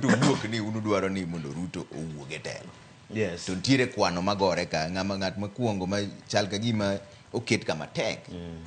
to wuok ni unudwaro ni mondo ruto owuog e telo yes to nitiere kwano magore ka ng'ama ng'at makwongo ma chal ka gima oket kama tek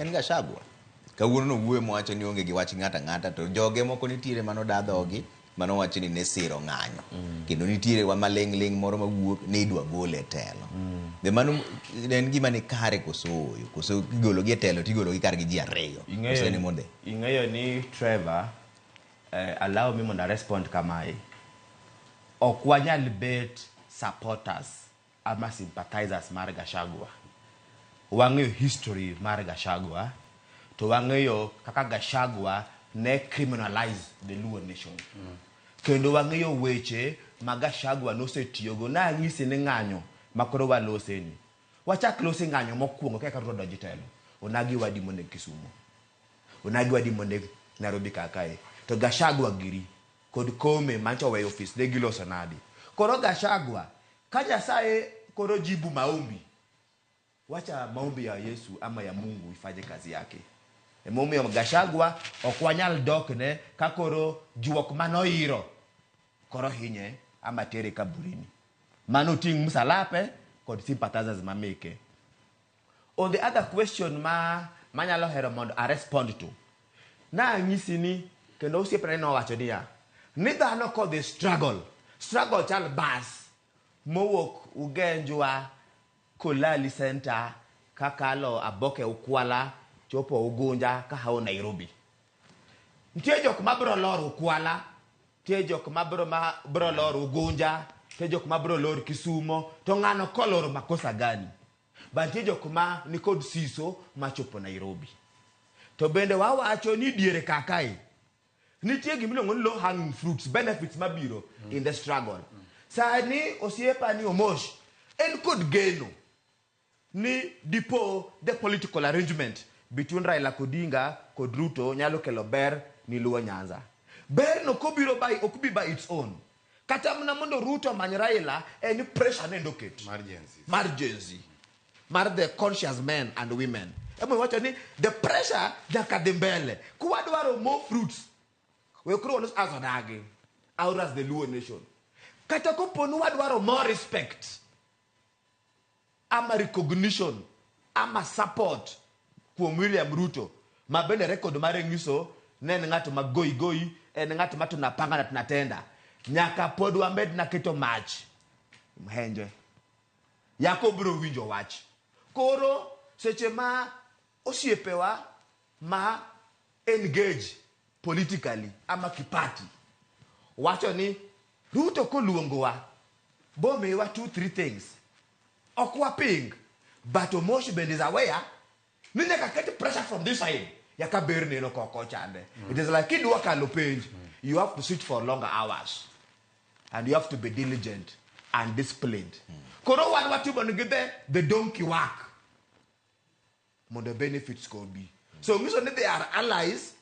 en gashagwa kawuono nowuoyo mowacho ni onge gi wach ng'ato ang'ata to joge moko nitiere mano da dhogi mano wacho ni ne siro ng'anyo kendo nitiere wa maling' ling' moro mawuok ni idwa gol e telo be mano en gima ni kare koso oyo koso igologi e telo tigologi kargi ji ariyo koso ni monde ing'eyo ni Trevor Uh, allow me mondo arespond kamae. Ok wanyal bet supporters ama sympathizers mar Gashagwa. Wang'eyo history mar Gashagwa to wang'eyo kaka Gashagwa ne criminalize the Luo nation. Mm. Kendo wang'eyo weche ma Gashagwa nosetiyogo na ang'isi ni ng'anyo makoro waloseni. Wachak losi ng'anyo mokwongo kaka Ruto donjo telo. Onagi wadi monego Kisumo. Onagi wadi moneg Nairobi kar kae. To Gachagua giri kod Kome manyocha oweyo ofis ne giloso nadi? Koro Gachagua ka Nyasaye koro jibu maombi, wacha maombi ya Yesu ama ya Mungu ifanye kazi yake. Emomiyo Gachagua ok wanyal dokne ka koro juok mane oiro koro hinye ama tere kaburini. Mano oting' msalape kod sympathizers mameke. On the other question ma manyalo hero mondo a respond to, nanyisi ni kendo osiepna ni nowacho niya, ni dhano kodhi struggle, struggle chal bus mowuok Ugenjwa, Kolali Centre, kakalo Aboke Ukwala, chopo Ugunja kahawo Nairobi. Nitie jok ma biro lor Ukwala, nitie jok ma biro ma biro lor Ugunja, nitie jok ma biro lor Kisumo, to ng'ano kolor makosa gani? Bantie jok ma nikod siso machopo Nairobi. To bende wawacho ni diere kakae nitie gima iluongo ni low hanging fruits, benefits mabiro mm. in the struggle. Mm. Sani osiepa ni Omosh en kod geno ni dipo the political arrangement between Raila Kodinga kod Ruto nyalo kelo ber ni Luo Nyanza. Berno kobiro by ok bi by its own. Kata mna mondo Ruto omany Raila en pressure nendo oket. Mar Gen Z. Mar Gen Z. Mar the conscious men and women. Emo wacho ni the pressure nyaka dhi mbele. Kwa dwaro more fruits. We kuro wanos as odagi. Our as the Luo nation. Kata koponu wadwaro more respect. ama recognition ama support kuom William Ruto ma bende record mare nyiso ne en ng'at ma goi goi, en ng'at ma tunapanga na tunatenda. Nyaka pod wamed na keto mach mhenje. Yako biro winjo wach. Koro seche ma osiepewa ma engage politically ama kipati wacho ni Ruto koluongowa bomiwa two three things ok waping but Omosh bende is aware ni nyaka ket pressure from this side yaka ber neno koko chande mm. it is like kidwa kalo penj mm. you have to sit for longer hours and you have to be diligent and disciplined mm. koro wan watimo ni gidhe the donkey work mondo benefits go obi so ngiso ni they are allies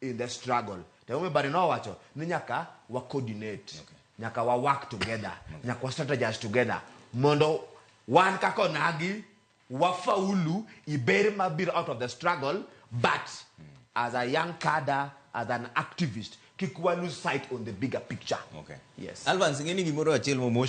in the struggle to onge bari nowacho ni nyaka wa coordinate okay. nyaka wa work together okay. nyaka wa strategize together mondo wan kaka onagi wafaulu iber mabiro out of the struggle but mm. as a young cadre as an activist kik wa lose sight on the bigger picture okay. yes alvans ing'e ni gimoro achiel